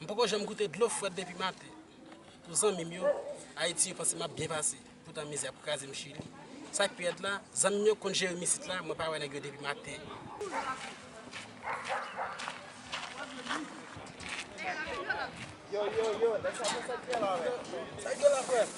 M poko janm goute dlo fwèt depi maten Pou zanmi m yo Ayiti yo panse map byen pase poutan mizè ap kraze m chili Sak pi rèd la zanmi m yo k konn jere m isit la mwen pa wè nèg yo depi maten.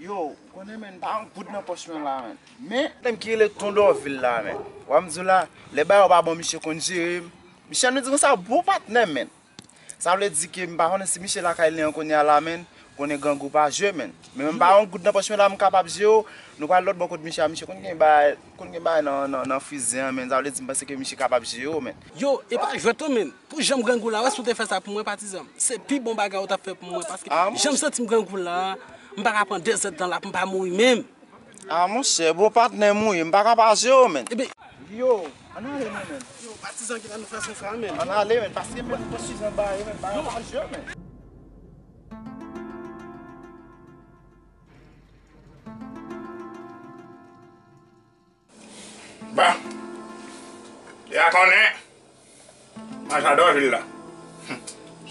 Yo ou konnen menn pa yon goud nan pòch mwen la menn men. Nèg ki rele ton dòvil la menn. Wap m diw la lè bagay yo pa bon misye konn jerem. Misye ap nou di konsa bon patnèm menn. Sa vle di ke m pa konnen si misye lakay li an kounya la menn. Konnen grangou pa jwe menn. Men mwen m pa yon goud nan pòch mwen la m kapab jerew. Nou pral lòtbò kot misye a misye konn gen bagay. Konn gen bagay nan frizè an menn sa vle di m panse ke misye kapab jere w menn. Yo e pa jwèt non menn. Pou janm grangou la wè si w te fè sa pou mwen patizanm se pi bon bagay ou tap fè pou mwen paske janm santim grangou la m paka pran 2 zèt tan la pou m pa mouri menm. Ah monchè bon patnè m ou ye m paka pa jere w menn. Ebyen. Yo ann ale non menn. Yo patizan ki la nan fason sa menn. Ann ale menn paske menn m pran frizè m bare menn m paka pa jere w menn. Bon, ya konnen, mwen jadò vil la.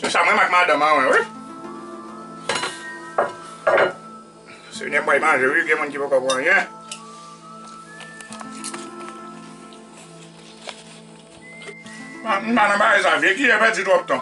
Se sa mwen mak madanm an wè wi. Senyè bay manje wi, gen moun ki poko pran anyen. Mwen pa nan bagay sa, vye kiyè pèdi twòp tan.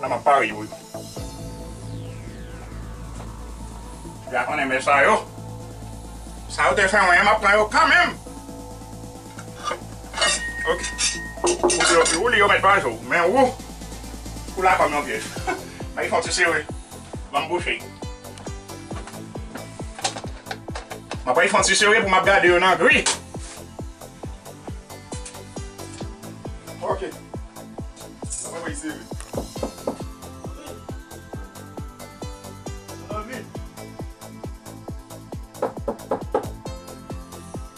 Nan map pare yo wi. Deja konnen men sa yo. Sa yo te fè mwen an map pran yo kanmenm. Ok Ou li yo met pa jou Men ou Ou la fanm yon pyej Bagay fok ti sere Banm bouche Map bay fon ti sere pou map gade yo nan gri Ok Map bay fon sere Nan vide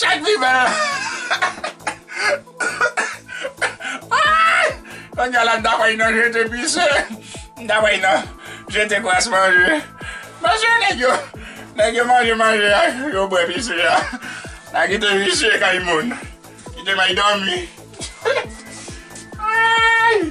Chak fi fè Konnya la m ta fèy nan jete pise M ta fèy nan jete kras manje Mesye nèg yo Nèg yo manje manje a yo bwè pise a Nan kite visye kay moun Kite may dòmi Aayy